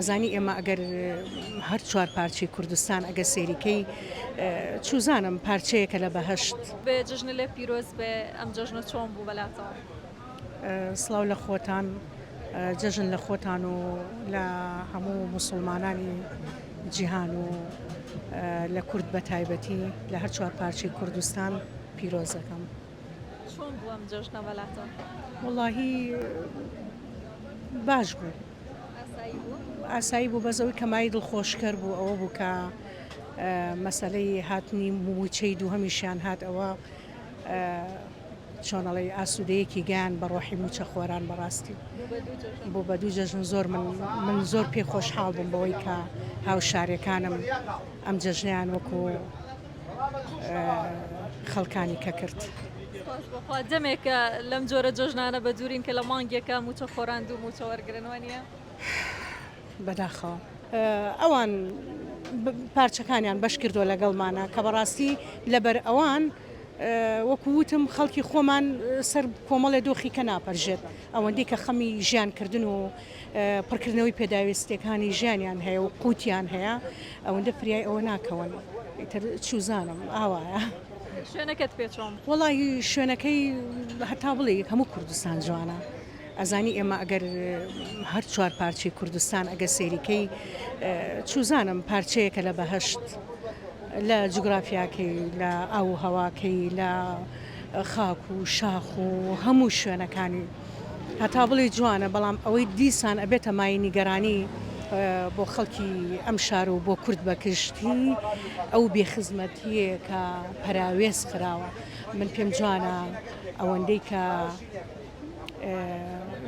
ئەزانی ئێمە ئەگەر هەر چوار پارچەی کوردستان ئەگەر سەیری کەی چوزانم پارچەیەکە لە بەهەشت. بێ جەژنە لێت پیرۆز بێ. ئەم جەژنە چۆن بوو بەلاتەوە؟ سڵاو لە خۆتان جەژن لە خۆتان و لە هەموو موسڵمانانی جیهان و لە کورد بە تایبەتی لە هەر چوار پارچەی کوردستان پیرۆز دەکەم. چۆن بوو ئەم جەژنە بەلاتان؟ وەڵاهی باش بوو ئاسایی بوو بەس ئەوەی کە مای دڵخۆشکەر بوو ئەوە بوو کە مەسەلەی هاتنی مووچەی دووهەمیشیان هات ئەوە چۆنەڵی ئاسوودەیەکی گیان بە ڕۆحی موچە خۆران بەڕاستی بۆ بە دوو جەژن زۆر من من زۆر پێ خۆشحاڵ بووم بەوەی کە هاوشارەکانم ئەم جەژنیان وەکو خەڵکانی کە کرد. دەمێکە لەم جۆرە جۆژنانە بە دوورین کە لە مانگێکە موچە خۆران دوو موچە وەرگن وانە بەداخەوە ئەوان پارچەکانیان بەش کردو لەگەڵمانە کە بەڕاستی لەبەر ئەوان وەکووتم خەڵکی خۆمان سەر کۆمەڵێ دۆخی کە ناپەرژێت ئەوەندی کە خەمی ژیان کردن و پڕکردنەوەی پێداوێستیەکانی ژیانیان هەیە و قوتیان هەیە ئەوەندە فریای ئەوە ناکەون ئیتر چوزانم ئاوایە شوێنەکەت پێ چۆن وەڵی شوێنەکەی هەتا بڵێ هەموو کوردستان جوانە ئەزانی ئێمە ئەگەر هەر چوار پارچی کوردستان ئەگە سێریکەی چوزانم پارچەیەکە لە بەهشت لە جوگرافیاکەی لە ئاو هەواکەی لە خاک و شاخ و هەموو شوێنەکانی هەتا بڵێی جوانە بەڵام ئەوەی دیسان ئەبێتە مایەی نیگەرانی بۆ خەڵکی ئەم شار و بۆ کورد بەکشتی ئەو بێخزمەتیە کە پەراوێز خراوە من پێم جوانە ئەوەندەی کە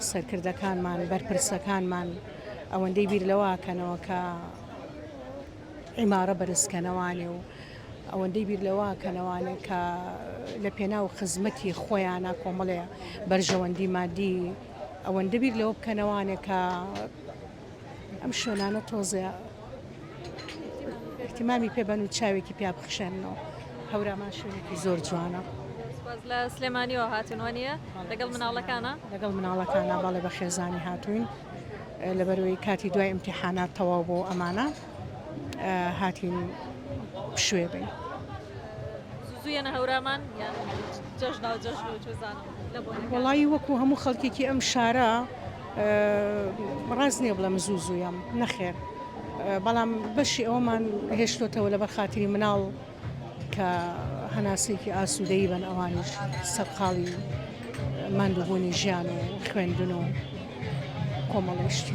سەرکردەکانمان بەرپرسەکانمان ئەوەندەی بیر لەواکەنەوە کە عیمارە بەرزکەنەوانێ و ئەوەندەی بیر لەوە کەنەوانێ کە لە پێناو خزمەتی خۆیانە کۆمەڵێ بەرژەوەندی مادی ئەوەندە بیر لەوە بکەنەوانێ کە ئەم شوێنانە تۆزێ احتیمامی پێبەن و چاوێکی پیا بخشێنەوە هەورامان شوێنێکی زۆر جوانە. لە سلێمانیەوە هاتنوە نیە لەگەڵ مناڵەکانە لەگەڵ مناڵەکانە بەڵێ بە خێزانی هاتوین. لەبەرەوەی کاتی دوای امتحانات تەواو بۆ ئەمانە هاتین پشوێ بین زویەنە هەورامان جەژنا جەژ وڵی وەکو هەموو خەڵکێکی ئەم شارە ڕاست نییە بڵم زوو زوویم نەخێر بەڵام بەشی ئەومان هێشتۆتەوە لە بەرخاتری مناڵ کە هەناسەیەکی ئاسوودەی بەن ئەوانیش سەرقاڵی ماندووبوونی ژیان و خوێندن و کۆمەڵیشتی.